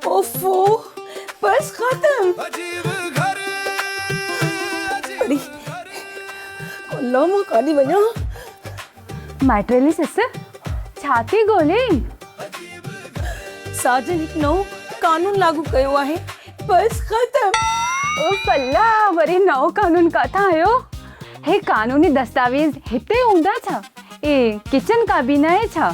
اوفو بس ختم. اڙي الله مان ڪاڏي وڃان. مائٽريلي سس ڇا ٿي ڳولهين. ساجن هڪ نئون قانون لاڳو ڪيو آهي بس ختم. اوف الله وري نئون قانون ڪاٿان آيو. هي قانوني دستاويز هتي هوندا ڇا. هي ڪچن ڪابينا آهي ڇا.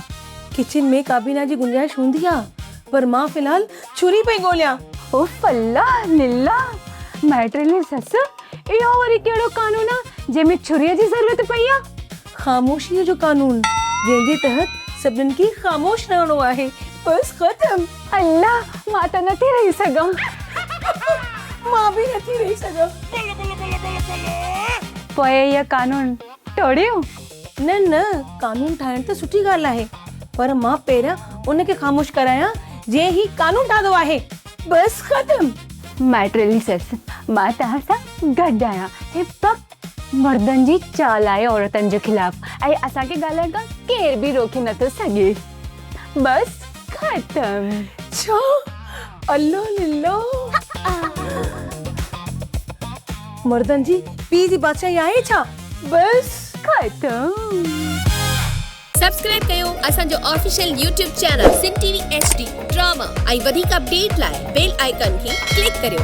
ڪچن ۾ ڪابينا جي گنجائش هوندي آهي. پر مان في الحال چھري پئي ڳوليان. اوف الله لله مائٽريلي سس اهو وري ڪهڙو قانون آ جنهن ۾ ڇري جي ضرورت پئي آ. خاموشيء جو قانون جنهن جي تحت سڀنن کي خاموش رهڻو آهي بس ختم. الله مان ته نه ٿي رهي سگهان. مان به نه ٿي رهي سگهان. پوء اهي قانون ٽوڙيو؟ نه نه قانون ٺاهڻ ته سٺي ڳالهه آهي پر مان پهريان ان کي خاموش ڪرايان جنهن هي قانون ٺاهيو آهي. بس ختم. مائٽريلي سيس مان توهان سان گڏ آهيان. هي فقط مردن جي چال آهي عورتن جي خلاف ۽ اسان کي ڳالهائڻ کان ڪير به روڪي نٿو سگهي. بس. ختم ڇا الله لله مردن جي پي جي بادشاهي آهي ڇا بس ختم سبسڪرائب ڪيو اسان جو official YouTube channel Sindh T V H D drama ۽ وڌيڪ اپڊيٽ لاء بيل آئيڪان کي ڪلڪ ڪريو.